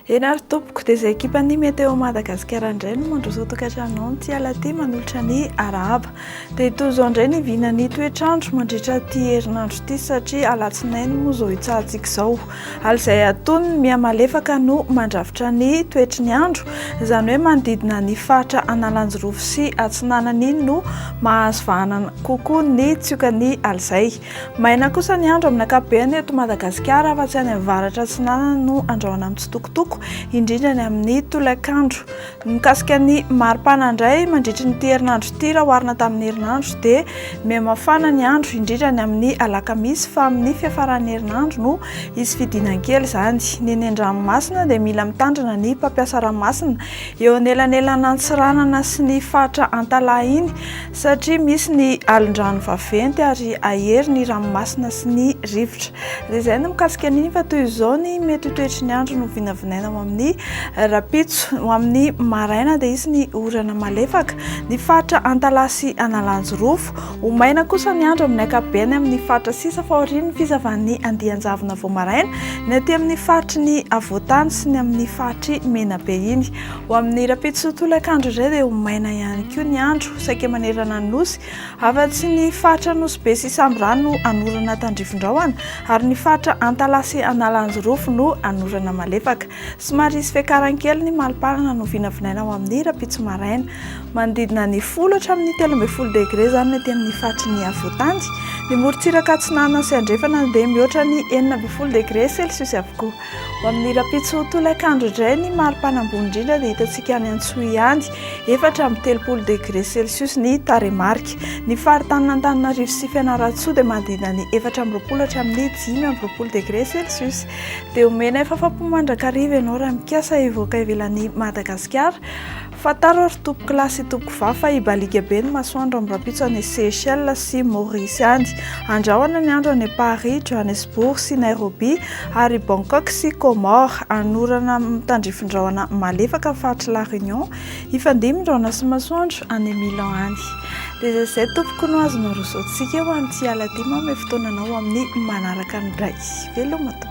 Eny ary tompoko, dia izay ekipan'ny Météo Madagasikara indray no mandroso tokantranonao amin'ity alatỳ manolotra ny arahaba. Dia toy izao indray ny vinan'ny toetr'andro mandritra ity herinandro ity satria alatsinainy moa izao hitsahantsika izao. ary izay atonony ny miha malefaka no mandrafitra ny toetry ny andro, izany hoe manodidina ny faritra Analanjirofo sy Atsinanana iny no mahazo vahana kokoa ny tsiokan'ny alizay. Maina kosa ny andro amin'ny ankapobeny eto Madagasikara afa-tsy any avaratra atsinanana no andrahona mitsitokotoko, indrindra ny amin'ny tolakandro. Mikasika ny maripana indray, mandritry n'ity herinandro ity raha oharina tamin'ny herinandro dia mihamafana ny andro indrindra ny amin'ny alakamisy fa amin'ny fiafaran'ny herinandro no hisy fidinankely izany. Nenendranomasina dia mila mitandrina ny mpampiasa ranomasina eo anelanelan'Antsiranana sy ny faritra Antalaha iny Satria misy ny alin-drano vaventy ary ahery ny ranomasina sy ny rivotra. Dia izay ny mikasika an'iny fa toy izao ny mety ho toetry ny andro no vinavinaina ho amin'ny rahampitso. Ho amin'ny maraina dia hisy ny orana malefaka ny faritra Antalaha sy Analanjirofo. Ho maina kosa ny andro amin'ny ankapobeny amin'ny faritra sisa fa aorian'ny fizavan'ny andian-javona vao maraina ny aty amin'ny faritry ny afovoan-tany sy ny amin'ny faritr'i Menabe iny. Ho amin'ny rahampitso sy tolakandro indray dia ho maina ihany koa ny andro, saika manerana ny nosy. Afa-tsy ny faritra Anosibe sy Sambirano no hanorana tandrifindrahona, ary ny faritra Antalaha sy Analanjirofo no hanorana malefaka. Somary hisy fiakarany kely ny mali-palana no vinavinaina ho amin'ny rahampitso maraina. Manodidina ny folo hatramin'ny telo ambin'ny folo degre izany ny aty amin'ny faritry ny afovoan-tany. Ny morontsiraka atsinanana sy andrefana dia mihoatra ny enina ambin'ny folo degre celsius avokoa. Ho amin'ny rahampitso tolakandro indray ny maripana ambony indrindra dia hitantsika any Antsohihy ihany, efatra amby telopolo degré celsius ny tarehimarika. Ny faritanin'Antananarivo sy Fianarantsoa dia manodidina ny efatra amby roapolo hatramin'ny dimy amby roapolo degré celsius. Dia omenay fafampo mandrakariva ianao raha mikasa hivoaka ivelan'i Madagasikara. Fantaro ry tompoko lahy sy tompoko vavy fa hibaliaka be ny masoandro amin'ny rahampitso any Seychelles sy Maurice any. Handrahona ny andro any Paris, Johannesburg sy Nairobi ary Bangkok sy Comores. Hanorana amin'ny tandrifin-drahona malefaka ny faritry La Réunion. Hifandimby ny rahona sy masoandro any Milan any. Dia izay izay tompoko no azonao rosoantsika ho an'ity alina ity. Manome fotoana anao amin'ny manaraka ny iray. Veloma tompoko.